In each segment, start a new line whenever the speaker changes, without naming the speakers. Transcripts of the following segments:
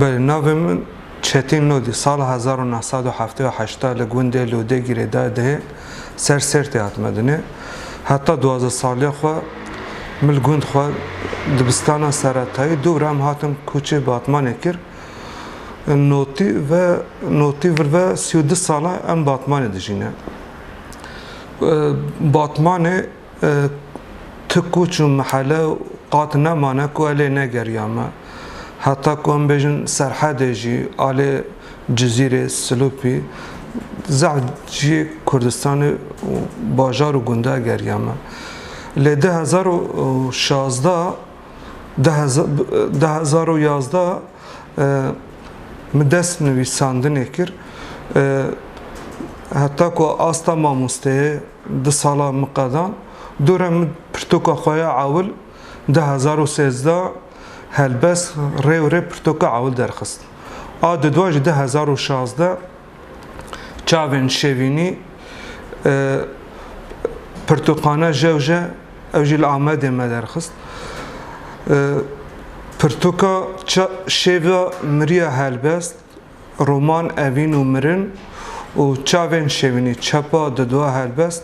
Belê navê min Çetîn Lodî sala hezar û neh sed û heftê û heşt li gundê Lodê Girêdayê dihê ser Sêrtê hatime dinê. Heta duwazdeh saliya xwe min li gund xwe dibistana seretayî dû rem hatim kûçê Batmanê kir. Notî ve notî vir ve sî û du sal e em Batmanê dijîne. Batmanê tu koç û mihele qat nemane ku elê negeriya me. Heta ku em bêjin serhedê jî alê Cizîrê, Silopî zehf cihê Kurdistanê û bajar û gunda geriya me. Lê du hezar û şazda Di hezar û yazdeh min dest nivîsandinê kir. Heta ku asta mamosteyê di sala min qedan, dora min pirtoka xwe ya ewil di hezar û sêzdeh helbest rê û rê pirtoka ewil derxist. A dudwa jî di hezar û şazdeh. çavên şevînî pirtûkane jewje ew jî li Amedê me derxist. Pirtûka şêva miriya helbest, roman Evîn û mirin û çavên şevînî çepa di dua helbest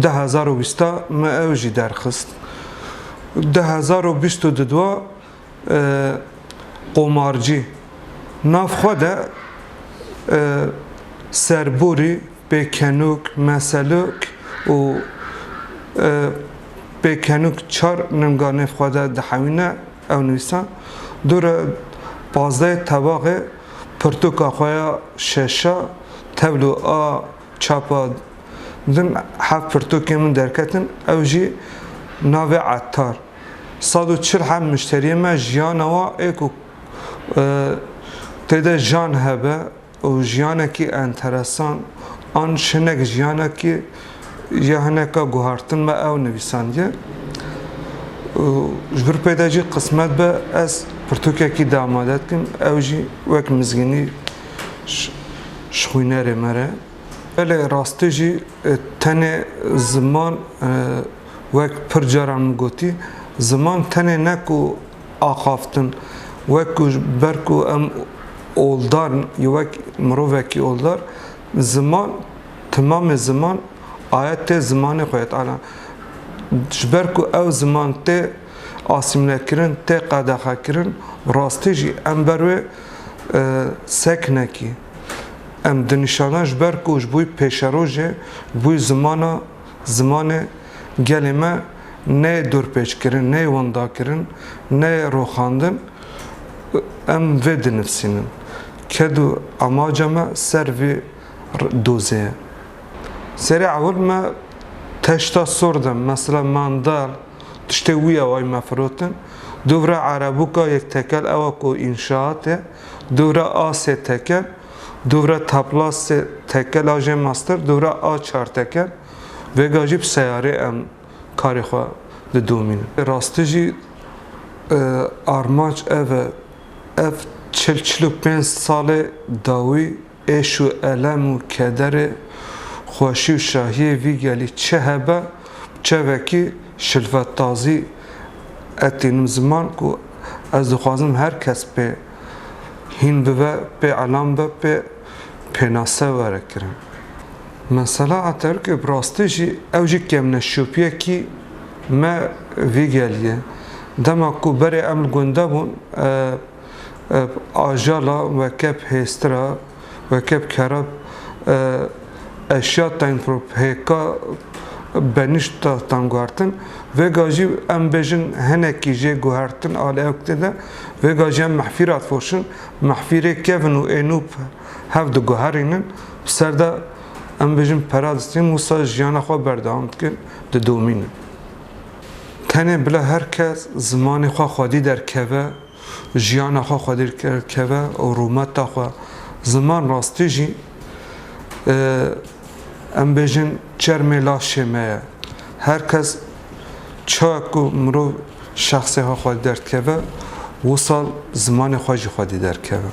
du hezar û bîst a me ew jî derxist. Du hezar û bîst û di dua qomarcî nav xwe de serborî pêkenok, meselok û pêkenok çar ninga nêv xwe de dihewîne ew nivîsa dûre pazdehê tevaxê pirtûka xwe ya şeşa tevlo a çapa din heft pirtûkên min derketin ew jî navê Etar. Sad û çil heb muşteriyên me jiyana wan ê ku tê de jan hebe û jiyanekî enteresan an şinek jiyanekî ya hineka guhartin me ew nivîsandiye û ji vir pê de jî qismet be ez pirtûkekî de amade dikim ew jî wek mizgînî ji xwînerê me re. Belê rastî jî tenê ziman Wek pir caran min gotî, ziman tenê ne ku axaftin, wek ku ji ber ku em oldar in, yê wek mirovekî oldar, ziman, timamê ziman aye tê zimanê xwe yê Teala. Ji ber ku ew ziman tê asîmlekirin, tê qedexekirin, bi rastî jî em ber wê seknekî em dinîşana ji ber ku ji bo wî pêşerojê, ji bo wî zimana, Zimanê gelê me neyê dorpêçkirin, neyê wendakirin, neyê roxandin û em vê dinivsînin. Ked û amaca me ser vî dozê ye. Serê ewil me teşta sor de mesela mandal tiştê wî ye wayî me firotin. Dûvre erebûka yek tekel ewa ku înşaat e, dûvre asê tekel. Dûvra tapla sê tekel a jê master dûvra a çar tekel vêga jî bi seyarê em karê xwe didomînin. Rastî jî armanc ev e ev çil çil û pênc salê dawî êş û elem û kederê xweşî û şahiyê vî gelî çi hebe bi çevekî şilvetdazî etînim ziman ku ez dixwazim her kes pê hîn bibe pê elam be pê pênase were kirin. Mesela Aterkê bi rastî jî ew jî kemneşopiyekî me vî gelî ye. Dema ku berê em li gunde bûn ajala wekef hêztir a. weke bi kera eşya tengprop hêka benişta tanguhertin. Vêga jî em bêjin hinekî jê guhertin a lewktê de vêga jî em mehfîr a difoşin. Mehfîrê kevin û ênûp hev diguherînin bi ser de em bêjin pera distînin wisa jiyana xwe berdewam dikin didomînin. Tenê bila her kes zimanê xwe xwedî derkeve. Jiyana xwe xwedîr keve û rûmeta xwe ziman rastî jî em bêjin çermê laşê me ye. Her kes çawa ku mirov şexsê xwe xwedî derdikeve, wisal zimanê xwe jî xwedî derkeve.